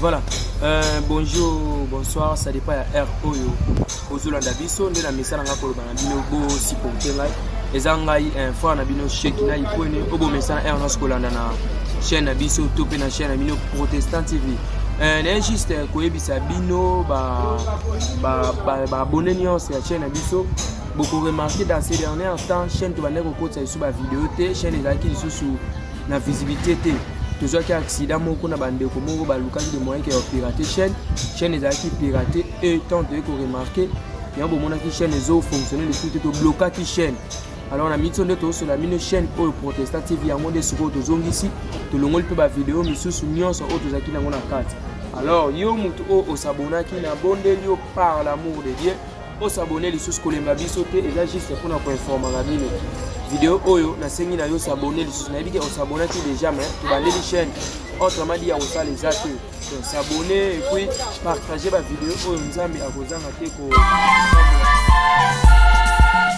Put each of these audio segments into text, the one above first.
Voilà. Euh, bonjour, bonsoir, ça dépend ya heure oyo ozolanda biso nde na misala ngai koloba na bino bosupporte ngai eza ngai eh, frère na bino sheki na ipwene oyo bomesana heure nyonso kolanda na chaîne na biso to mpe na chaîne na bino protestant tv eh, naye juste eh, koyebisa bino baabone nyonso ya chaîne na biso bokoremarke dans ces derniers temps chaîne tobandaki kokotisa lisusu bavideo te chaîne ezalaki lisusu na visibilité te tozwaki accident moko na bandeko moko balukaki de moyen ke ya pirate chaîne chaîne ezalaki pirate e temps toyei koremarke yango bomonaki chaîne ezofonctionne lisusu te toblokaki chaîne alors na miso nde tozosola mino chaîne oyo protesta tv yango nde sikoyo tozongisi tolongoli mpe bavideo misusu nyonso oyo tozalaki nango na kati alors yo moto oyo osabonaki na bondeli yo par l'amour de dieu o s'abonner lisusu kolemba biso te eza juste mpona koinformaka bino video oyo nasengi na yo s'abonner lisusu nayebi ke osabonaki déjà mais tobandeli chaîne autrement dit ya kosala eza te donc s'abonner et puis partager bavideo oyo nzambe akozanga te ko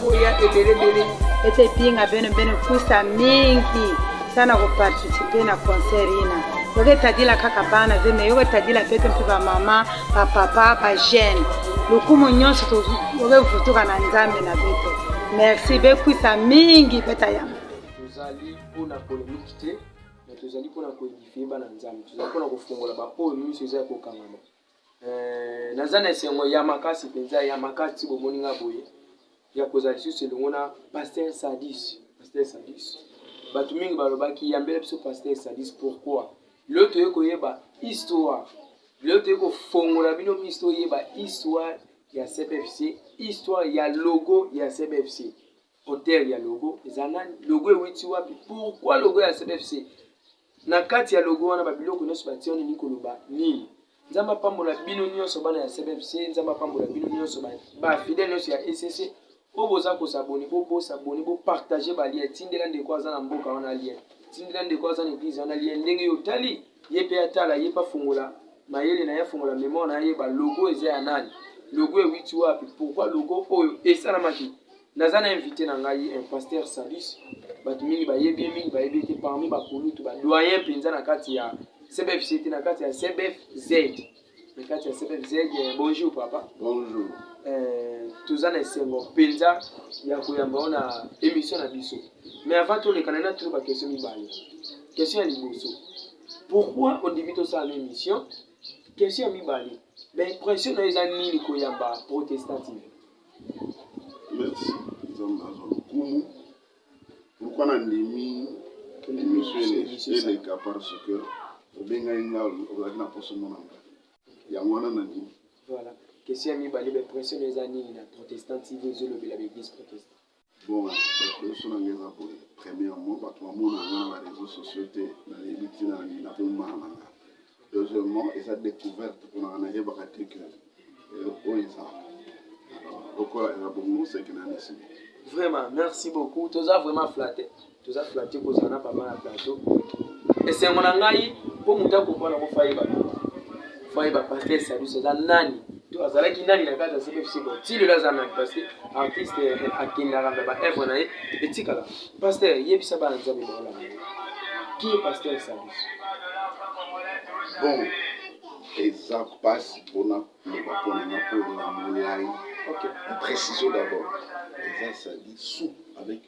koya ebelebele ete epinga bene bene kusa mingi sana koparticipe na concert ina yoko etadila kaka bana te me yoko etadila pete mpe bamama bapapa bajeune lokumu nyonso tokevutuka na nzambe na beto merci bekwisa mingi beta yambo tozali mpona polemiki te me tozali mpona koedifie bana nzambe tozali mpona kofungola baoyo nyonso eza ya kokangama Eh, naza na esengo ya makasi mpenza ya makasi bomoni nga boye ya kozala lisusu elongo na paster sadis paster sadis bato mingi balobaki yambela biso paster sadis pourquoi leo toye koyeba histoire leo toye kofongola bino miso toyeba histoire ya cbfc histoire ya logo ya cbfc Auteur ya logo eza nani? Logo ewiti wapi? Pourquoi logo ya CBFC? Na kati ya logo wana ba biloko nyonso batie wana elingi koloba nini? Nzambe apambola bino nyonso bana ya CBFC, Nzambe apambola bino nyonso ba fidèle nyonso ya ECC. Oyo boza ko s'abonner, bo bo s'abonner, bo partager ba liens, tindela ndeko aza na mboka wana lien. Tindela ndeko aza na église wana lien ndenge yo otali, ye pe atala, ye pe afongola mayele na ye, afongola memoire na ye, ba logo eza ya nani? Logo ewiti wapi? Pourquoi logo oyo esalamaki? Naza na invite na ngai un pasteur Salus, bato mingi bayebi ye, mingi bayebi ye te, parmi bakulutu ba doyen mpenza na kati ya CBFC te, na kati ya CBFZ, na kati ya CBFZ. Eh, bonjour papa. Bonjour. Eh, toza na esengo mpenza ya koyamba yo na émission na biso, mais avant tolekana na tuna bakestion mibale. Question ya liboso, pourquoi ondimi tosala na émission? Question ya mibale, baimpression na yo eza nini koyamba protestative? Merci nzambe azwa lokumu pourquoi na ndimi emission eleka parce que obengaki nga ozalaki na poso mona nga yango wana na ndimi voilà question ya mibale ba impression eza nini na protestant tv ezolobela ba église protestant Bon, bateso na nga eza boye, premièrement, bato bamona nga na bareseau sociaux te, nayebi ntina na nini nabombana na nga. Deuxièmement, eza découverte mpo na nga, nayebaka te ke eloko oyo eza lokola eza bongo, seke na nesili. Vraiment, merci beaucoup, toza vraiment flatte. Toza flatte kozala na papa na plateau. Esengo na ngai po moto akompana ko faye ba faye ba pasteur Salusi aza nani to azalaki nani na kati ya CFC bo ti lelo aza nani parce que artiste eh, akendaka mpe ba œuvre na ye etikala. Pasteur yebisa bana nzambe baola na ye. Qui est pasteur Salusi? Bon, eza mpasi mpona koloba mpo na nga mpo na molai. Okay. Précision d'abord. Eza Salusi avec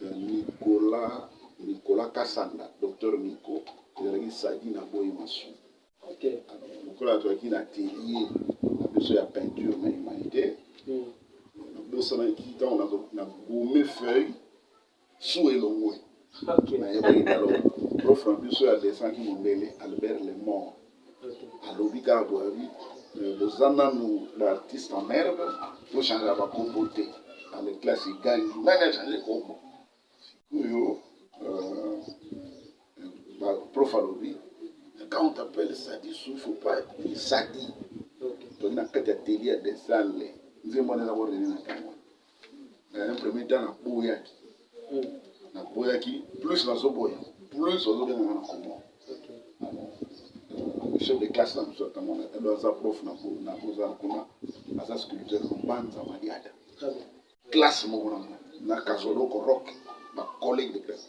Nicolas Nicolas kasanda docteur Nico ezalaki sadi na boyi masu okay. Lokola azwaki na atelier na biso ya peinture na humanité mm. nabosanaki ntango na gome feuille su elongwe okay. nayebaki talo prof na biso ya desanki mondele albert lemort alobi kaka boye alobi euh, boza nanu ba artiste en merde tochangea bakombo te na le classe egangi nani achange kombo sikoyo euh, prof alobi quand on t'appelle sadi su faut pas dire sadi toli na kati ya teli ya desale nzembo wana eza korene na ntango mais un premier temps naboyaki naboyaki plus nazoboya plus ozobenganga na kombo chef de classe na biso ntango wana elo aza prof na kozala kuna aza sculpteur mbanza madiada classe moko na na kazoloko rock bacollege de classe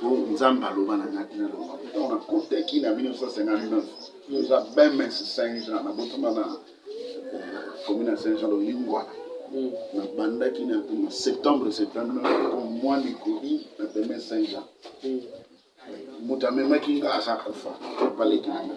po nzambe aloba na ngaki na loba ntango nakotaki na 1959 oza bms saint jean nabotama na commune ya saint jean lolingwana nabandaki na septembre 79 comme moi nikoli na bms saint jean moto amemaki nga aza kufa baleki na nga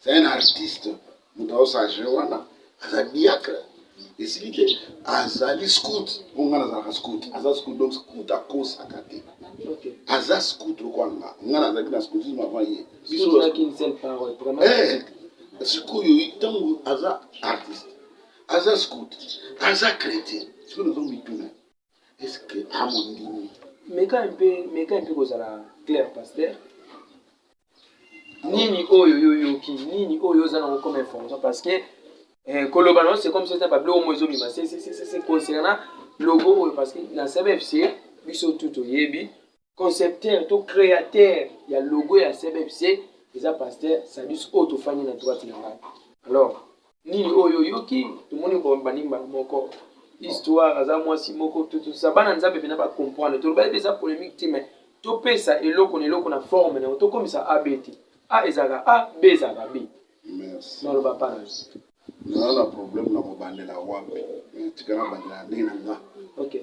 C'est un artiste moto azo s'agir wana aza diacre esili ke azali scout mpo ngai nazalaka scout aza scout donc scout akosaka te aza scout lokola nga ngai nazalaki na scoutisme avant ye biso sikoyo ntango aza artiste aza scout aza chrétien sikoyo nazo mituna est-ce que amondimi meka un peu meka un peu kozala clair pasteur nini oyo yo yoki nini oyo oza nango comme information parce que eh, koloba nango c'est comme sesa babiloko omo ezobima se concernant logo oyo parce que na cbfc biso tu toyebi concepteur to createur ya logo ya cbfc eza pasteur sadus oyo tofandi na droite na ngai alors nini oyo oyoki tomoni bobandi mbala moko histoire aza mwasi moko totosa bana nzambe mpena bacomprendre tolobaki mpe eza polémique te mai topesa eloko na eloko na forme na yango tokomisa ab te a ezalaka a b ezalaka b naloba panas naza na problème na kobandela wapi tikana bandela ndenge na nga okay.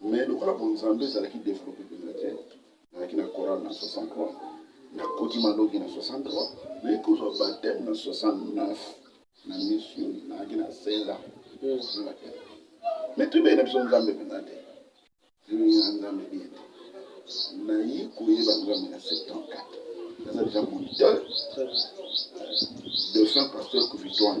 mais lokola bonzambe ezalaki develope mpenza te nazalaki na coral na 63 nakoti malongi na 63 naye kozwa bateme na 69 na misu nazalaki na 16 ans mais toyebaki na biso nzambe mpenza te toyebaki na nzambe bien te naye koyeba nzambe na 74 naza deja moniteur de fin pasteur kuvitoire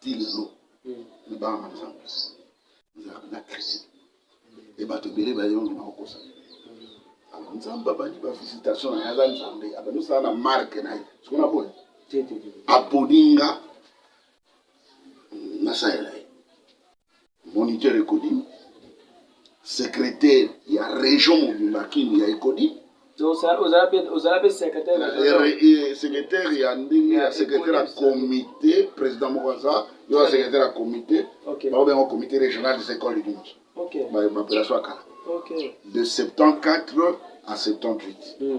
ti lelo libanga na nzambe ezalaka na crise e bato ebele bayongi na kokosa alors nzambe abandi bavisitation na ye aza nzambe abandi osala na marke na ye soko na boye aponi nga nasalela ye moniteur ecodim secrétaire ya région mobimba kin ya ecodim ozala mpe secrétaire ya ndenge ya secrétaire ya comité président moko aza yo ya secrétaire ya comité bango bengo comité régional des écoles du monde bapelation ya kala de 74 à 78 mm.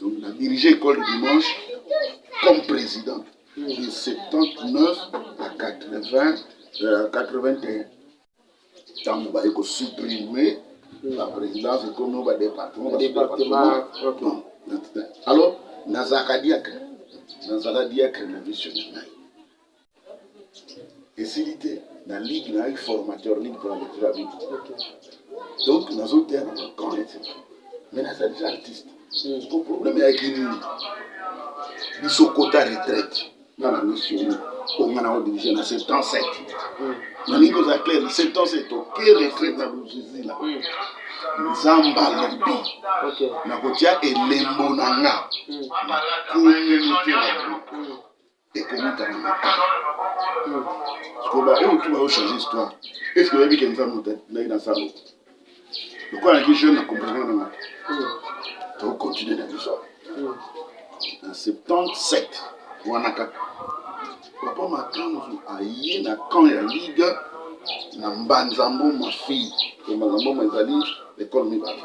Donc, na dirige école du dimanche comme président de 79 à 80, euh, 81. Ntango baye kosupprime la présidence ekomi o badépartement Département, ok. Non, non, alors nazalaka diacre nazala diacre na mission na ngai esili te na ligue na yaki formateur ligue pona lecture ya bible donc nazoteya na bacamp etc mais naza deja artiste hmm. ko problème yaki nini biso kota retraite na na misio onga na odirige na 77 hmm. nalingi koza clair 77 oke retraite na bozuzi la hmm. nzambe alobi nakotya elembo na nga na communauté na ekomutana na ta sikoyo baoyo tu bayo change histoire eske oyebi ke nzambe moto ndaki na zalo lokola naki jeune na comprendre na mata tokocontinue na biso na 77 wana kaka papa makanzu aye na camp ya liga na mbanzambo mafille mbanzambo ezali ekole mibale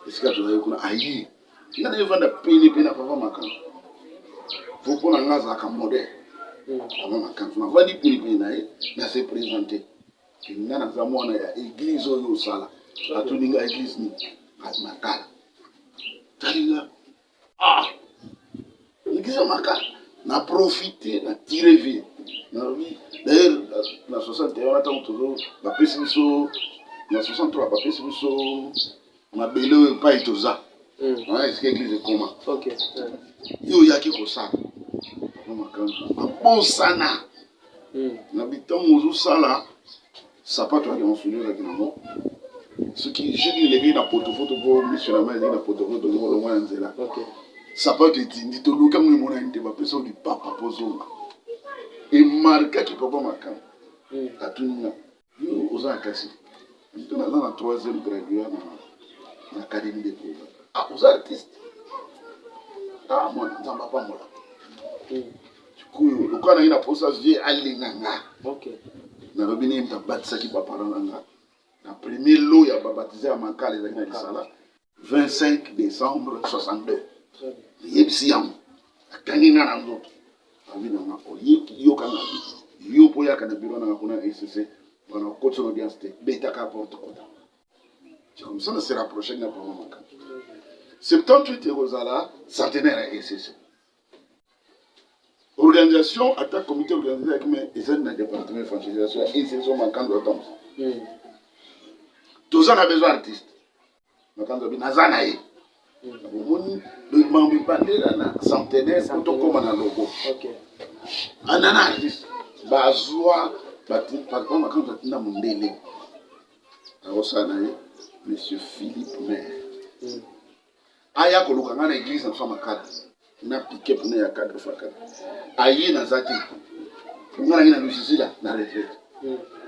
esika tozali kuna aye nga na evanda pene pene ya papa makambo po mpo na nga azalaka modèle papa makambo navandi pene pene na ye na se présente ke nga naza mwana ya église oyo osala atuni nga église nini makala tali nga ah église ya makala na profite na tire vie nalobi d'ailleurs na 61 wana ntango tozo bapesi biso na 63 bapesi biso mabele oyo epai toza hmm. wana esika eglise ekoma yo oyaki kosala makambo abosana hmm. na bitango ozosala sapato ya lionsoli ozalaki nango soki jeki eleki na potofoto mpo miso na mai ezalaki na potofoto olongwa na nzela sapato etindi toluki yango emonani te bapesa yo lipapa mpo ozonga emarkaki papa makambo hmm. atunina Yo oza na classe nini? Tuna nga na troisième gradua na na académie de Koba. Ah, oza artiste? Ah, mwana Nzambe apambola. Sikoyo lokola naye na posa vie alinga nga. Okay. Nalobi nini nabatisaki ba parents na nga. Na premier lot ya ba baptise ya Makala ezalaki na Lisala. 25 décembre 62 yebisi yango akangi nga na nzoto abi nanga oyoka nga yo mpo oyaka na biro nanga kuna ecc mpona okotisa na audience te betaka porte kota jakomisa na se rapproche nga mpo makambo septembre 8 ekozala centenaire ya ecc organisation ata comité organisation yaki mais ezali na département evangelisation ya insertion makanzo ya temps hmm. toza na besoin artiste makanzo abi naza na ye hmm. omoni mambo ebandela na centenaire po tokóma na logo anana ah, artiste bazwa patron makanzo atinda mondele akosala na ye monsieur philippe maire hmm. aya koluka ngai na eglise na fama kadi na pike pune ya kadi fa kadi aye naza te nga nangi na lusizila na retraite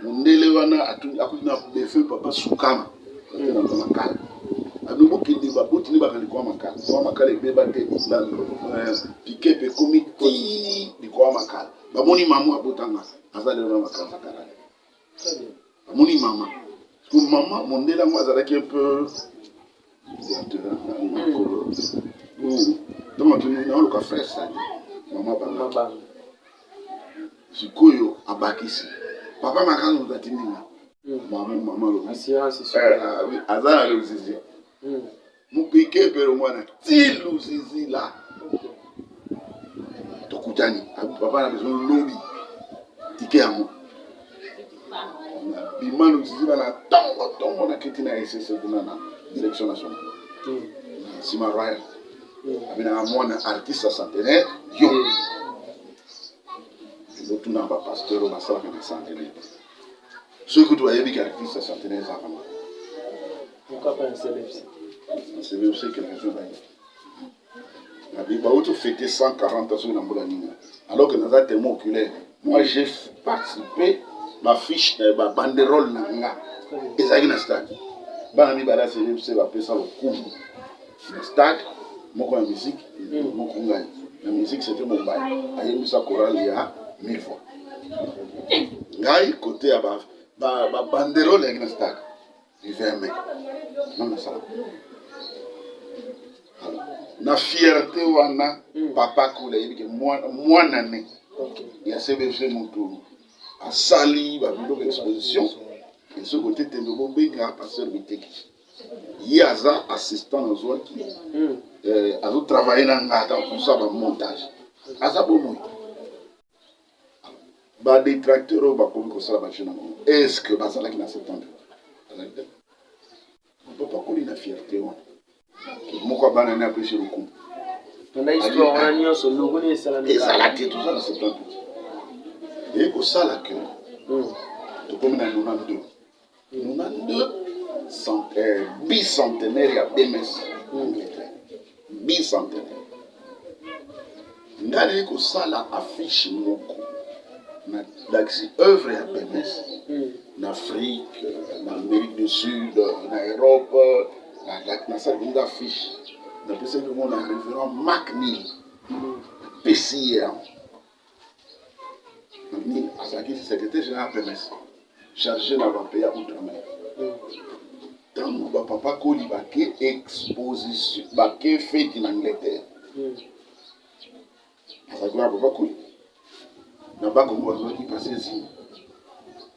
mundele wana akuti na defunt papa sukama ate na fama kadi abi bokende baboti nde bakandi kwa makala kwa makala ebeba te eh, pike mpe ekomi ti likwa makala bamoni mamu abotanga aza lelo na makala makala Amoni mama. Ko mama mondele yango azalaki un peu ntango atuni naoluka frère sani mama banga sikoyo abakisi papa makanga moto atindi nga mama mama lobi aza na lozizi mupike pero mwana tilu zizila tokutani papa na besoin lobi tike yango bimano zizila na tongo tongo na kiti na esese kuna na direction nationale nsima hmm. royal hmm. abinaka mwana artiste centenaire yo ezotuna bapasteur oyo basalaka na centenaire soki kutu bayebi ke actrice ya centenaire eza kama pourquoi pas un cbfc un cbfc quelque chose bayebi nabi bauti fete 140 soki na mbula nini alors que naza témoin oculaire moi j'ai participé bafiche na eh, babanderole na nga ezalaki na stade bana mibale ya cbfc bapesa lokumu na stade moko ya musique moko ngai na musique c'était Bombay ayembisa chorale ya mille fois ngai côté ya ba ba, ba banderole yaki na stade du 20 mai non na sala na fierté wana hmm. papa kula yebi ke mwana ne okay. ya cbfc motu asali ba biloko exposition esoki otetendo bobenga pasteur biteki ye aza assistant nazwaki hmm. eh, azo travaille na nga ata kosa ba montage aza bomoi ba detracteur oyo bakomi kosala bajeu na bango est ce que bazalaki na septembre azali te papa koli na fierté wana moko abana ne apesi lokumu ezala te toza na septembre eye kosala ke hmm. tokomi na nona ndoki Euh, bicentenaire ya bms angleterre bicentenaire ngai kosala affiche moko nalakisi œuvre ya bms hmm. na afrique na amérique du sud na europe nasalaki nga affiche napesaki yango na révérend mak nil apesi ye yango azalaki secrétaire général pms chargé na bampe ya outre-mer ntango bapapa koli bake exposition bake feti na angleterre azalaki na papa koli na bakongo bazalaki pasesi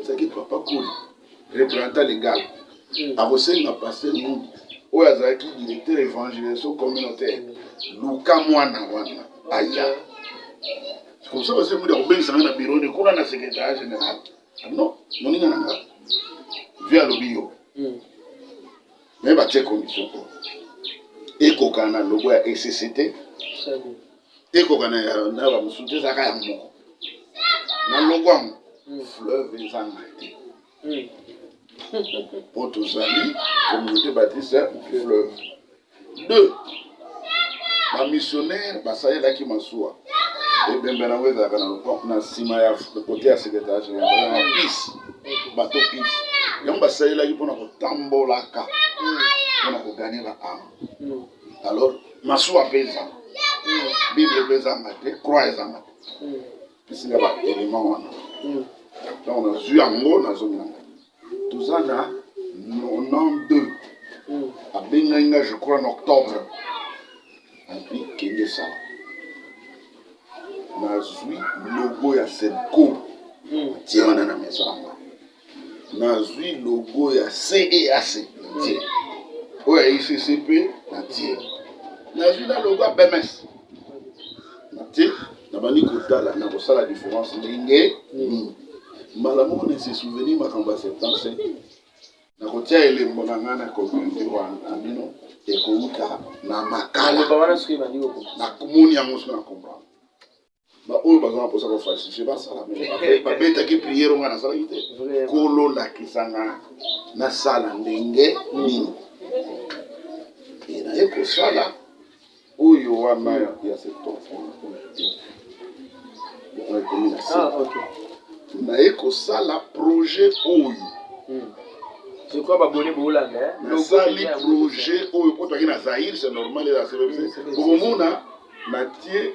ezalaki papa koli représentant legal hmm. akosenga paster ngudu oyo azalaki directeur évangélisation communautaire luka mwana wana aya komsa paster ngudu akobengisa ngai na biro ne kuna na secrétariat général ah non moninga na nga vi alobi yo hmm. me batie condition po ekokana na logo ya ecct ekokana ya na ba mosusu te ezalaka ya moko na loko yango hmm. fleuve ezanga te hmm. mpo tozali communauté batiste fleuve deux bamissionnaire basalelaki masuwa ebembe nango ezalaka na loko na nsima ya kote ya secretaire général na pise bato pise yango basalelaki mpo na kotambol aka mpona koganye ba ame alors masuwa mpe ezanga bible mpe ezanga te croix ezanga te esinga ba élément wana donc nazwi yango nazongi nanga toza na 92 abengaki nga je crois na octobre api kende sala nazwi logo ya selco atie wana na maison yango Nazwi logo ya CEAC na tie, oyo ya ICC mpe na tie, nazwi na logo ya BMS na tie, nabandi kotala na kosala difference ndenge nini. Mbala moko na se souvenir makambo ya septembre 7 nakotia elembo na ngai na communauté wana na bino ekouta na makala, nakomoni yango soki na comprendre baoyo baza na mposa ko falsifie basala babetaki priere ngai nasalaki te kolo lakisa nga nasala ndenge nini e naye kosala oyo wana ya septembre ekomi na se naye kosala projet oyo hmm. nasali projet oyo potaki na zaire c'est normal elaselobise bokomona natie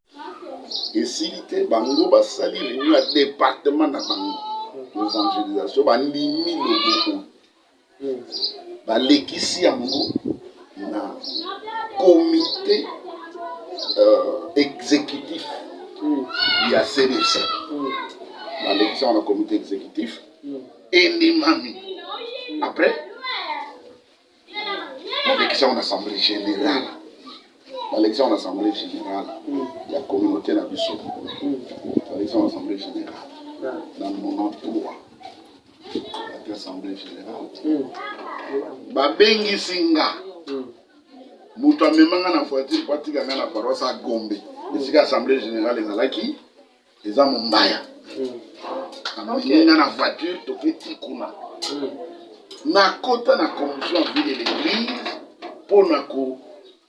esili te bango basali reunion ya departement na bango evangelisation bandimi logo oyo balekisi yango na comité euh, exécutif ya cdc balekisi yango na comité exécutif endimami après balekisi yango na assemblée générale balekisi yango na assemblée générale ya communauté na biso balekisi yango na assemblée générale na 93 ati assemblée générale babengisi nga moto amema nga na voiture po atika nga na paroisse ya gombe esika assemblée générale ezalaki eza mombaya amemina na voiture toketi kuna nakota na confusion vie de l'église mpo na ko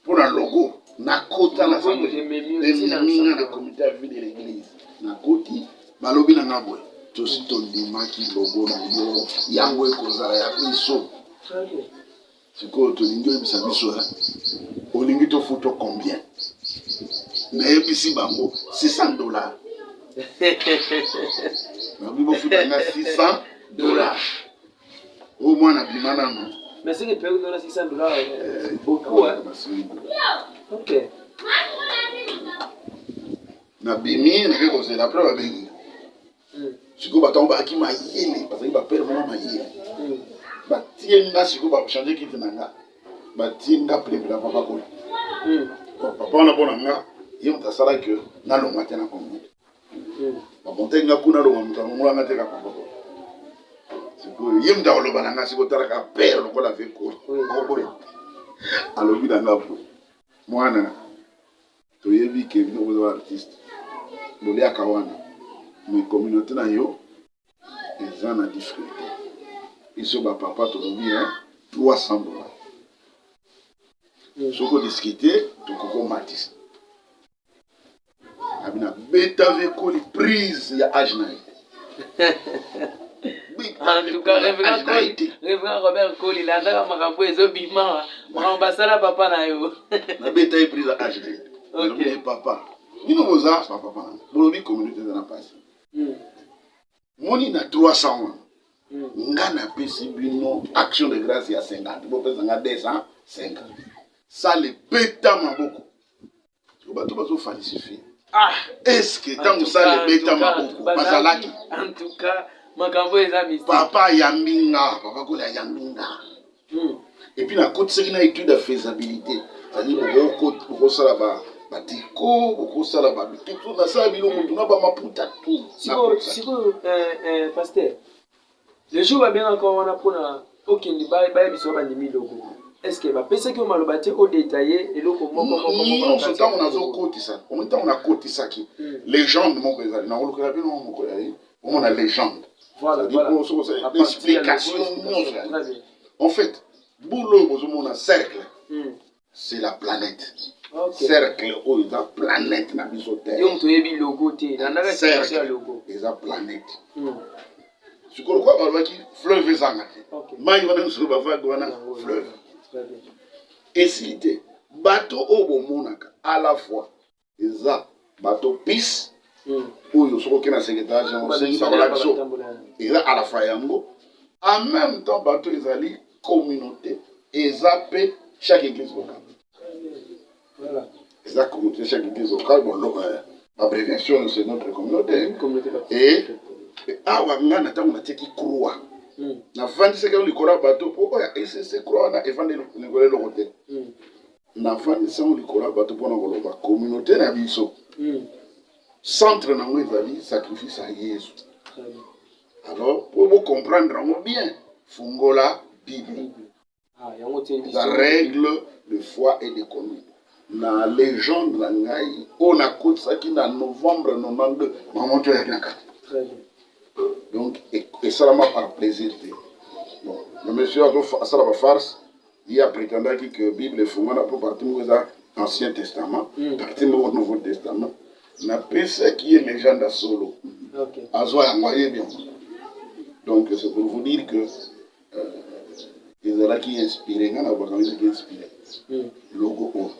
mpo na logo nakota na ememinga na comité ya vie de l'église nakoti balobi na nga boye tosi tondimaki logo na yo yango ekozala ya biso Sikoyo tolingi oyebisa biso eh, olingi tofuto combien? Nayebisi bango 600 dollars nabi bofuta nga 600 dollars oyo oh, mwana bima nano mais soki mpe okona 600 dollars eh, eh, beaucoup ok nabimi nake kozela apres babengi sikoyo bato yango bayaki mayele bazali bapere moko mayele batie nga sikoyo bachange kiti na nga batie nga plebla papa kola papa wana mpo na nga ye moto asala ke nalonga te na kongo bamontaki nga kuna longa moto alongola nga te ka papa kola sikoyo ye moto akoloba na nga sikoyo talaka pere lokola ve kola alobi na nga boye mwana Toyebi ke bino boza ba artiste boliaka wana mais communaute na yo eza na difficulte biso ba papa tolobi hein 300 dollars soki odiscute tokoki omatisa abina beta vekoli prise ya age na ye reverend robert koli landaka makambo ezobima makambo basala papa na yo nabeta ye prise age na ye papa bino boza bapapa bolobi communauté eza na mpasi hmm. moni na 300 wana hmm. nga napesi bino action de grâce ya 50 bopesa nga 250 sale beta maboko bato bazo falsifie ah eske ntango sala ebeta maboko bazalaki en tout cas makambo eza mystique papa ayambi nga papa koli ayambi nga hmm. epuis nakotisaki na étude ya faisabilité zali bokosala ba batiko bokosala babitutu nasala biloko tuna bamaputa tu sikoyo euh, euh, paster Le jour babengaka yo wana mpona okende bayebisa yo bandimi logo eske bapesaki yo maloba te odetaye eloko mokomokomokoso ntango nazokotisa omi ntango nakotisaki hmm. legende moko ezali nakolukela bino moko ya ye omona legende explication nyonso en fait boule oyo bozomona cercle hmm. c'est la planète okay. cercle oyo eza planète na biso te yo moto oyebi logo te landaka ya logo eza planète hmm. sikoyo lokola balobaki fleuve ezanga te mai wana nyonso bavage wana fleuve esili te bato oyo bomonaka à la fois eza bato pis hmm. oyo soki oke na secretarage yango soki bakola biso eza à la fois yango en même temps bato ezali communauté eza mpe chaque église locale eza communauté chaque église locale euh, abréviation c'est notre communauté et awa ngai na ntango natieki croix hmm. nafandisaki yango likolo ya bato mpo oyo esese croix wana efandi likolo eloko te hmm. Nafandi sango likolo ya bato mpo na koloba communaute na biso centre nango ezali sacrifice ya Yesu. Alors mpo bo comprendre yango bien, fungola Bible. Ah, eza règle de foi et de conduite na legende na ngai oyo nakotisaki na novembre 92 mama to yaki na kati donc esalama par plaisir te bon le monsieur asala bafarce Ye a pretendaki que Bible efungwana mpo partie moko eza Ancien Testament, mm. partie moko Nouveau Testament. Napesaki ye legende ya solo, okay. azwa yango ayebi yango. Donc c'est pour vous dire que euh, ezalaki inspiré, ngai na bakangisaki inspiré mm. logo oyo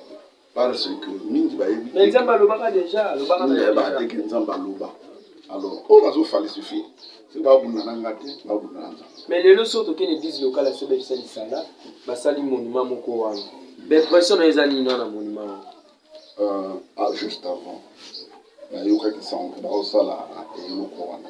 Par ce que mingi bayebi te. Mais Nzambe alobaka déjà, alobaka déjà. Alobaka te que Nzambe aloba. Alors, oyo bazo falsifie, c'est ba bunda na nga te, ba bunda na Nzambe. Mais lelo soki tokende église locale ya Sobe Bisali Sala, basali monument moko wana. Impression na eza nini wana monument wana? Euh, ah, juste avant, nayokaki sango baosala eloko wana.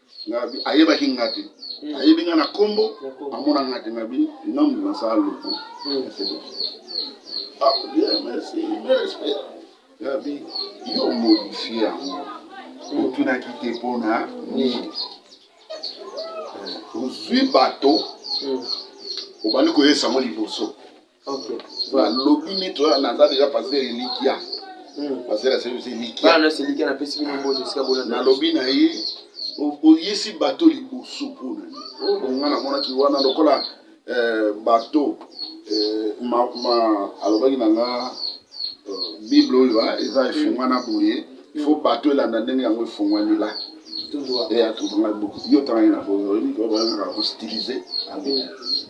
ayebaki nga te hmm. ayebi nga na kombo amona nga te na bi nom de ma sala lopo hmm. ah, nabi yo modifie yango hmm. otunaki te mpona nini ozwi bato obandi koyesa yango liboso lobi mito naza deja pasteur elikia hmm. pasteur ya service elikia nalobi na ye oyisi bato liboso mpona nini nga namonaki wana lokola eh, bato eh, alobaki na nga eh, bible oyo ah, eza hmm. efungwana boye ifo hmm. bato elanda ndenge yango efungwanila eya tozonga buku yo tangaki na boye oyebiki oyo bayangaka kostilize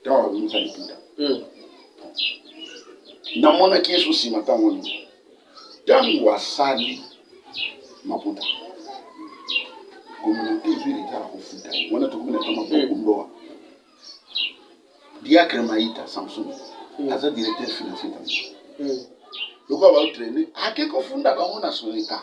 ntango abimisa lokuta hmm. namonaki yesu nsima ntango nini ntango asali maputa kominate ezwi leta ya kofuta wana tokomi na kama bokundoa diacre maita samson hmm. aza directeur financier tango hmm. lokola baotraine ake kofunda bango na soleta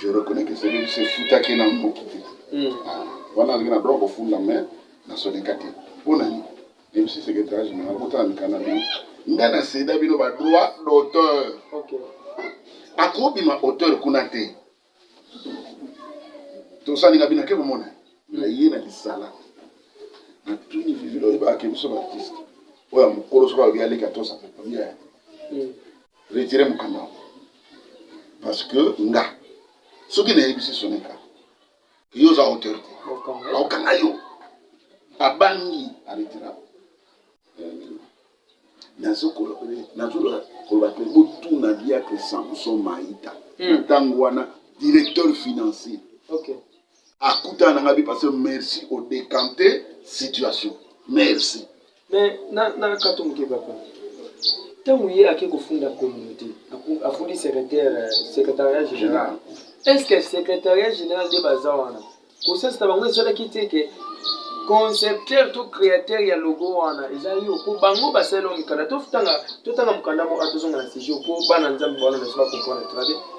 je reconnais que c'est se futaki na mboki te hmm. ah, wana alingi na droit kofunda mais na soneka te mpo na nini même si c'est que age na akotala mikanda bino nga na seda bino ba droit d'auteur akobima auteur kuna te tosalinga bino ake komona na ye na lisala na tuni vivilo oyebaka ke biso baartiste oyo ya mokolo soki alobi aleki atosa papa Retirer mukanda yango parce que nga soki nayebisi Sonika yo oza auteur te bakokanga yo abangi aretira nazoloba koloba te botuna biatre samson maita ntango hmm. wana directeur financier akutana na ngai bi parce que merci au décanter situation merci mais na na kato moke papa ntango ye ake kofunda communauté afundi secrétaire euh, secrétariat général est ce que secrétariat général nde baza wana kosasi na bango esalaki te ke concepteur to créateur ya logo wana eza yo po bango basaleli mikanda totanga mokanda moko tozonga na sujet po bana nzambe bawana na biso bakomprendre très bien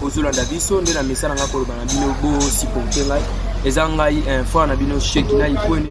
bozolanda biso nde na mesa na ngai koloba na bino bosupporte ngai eza ngai eh, frère na bino sheki na ikwene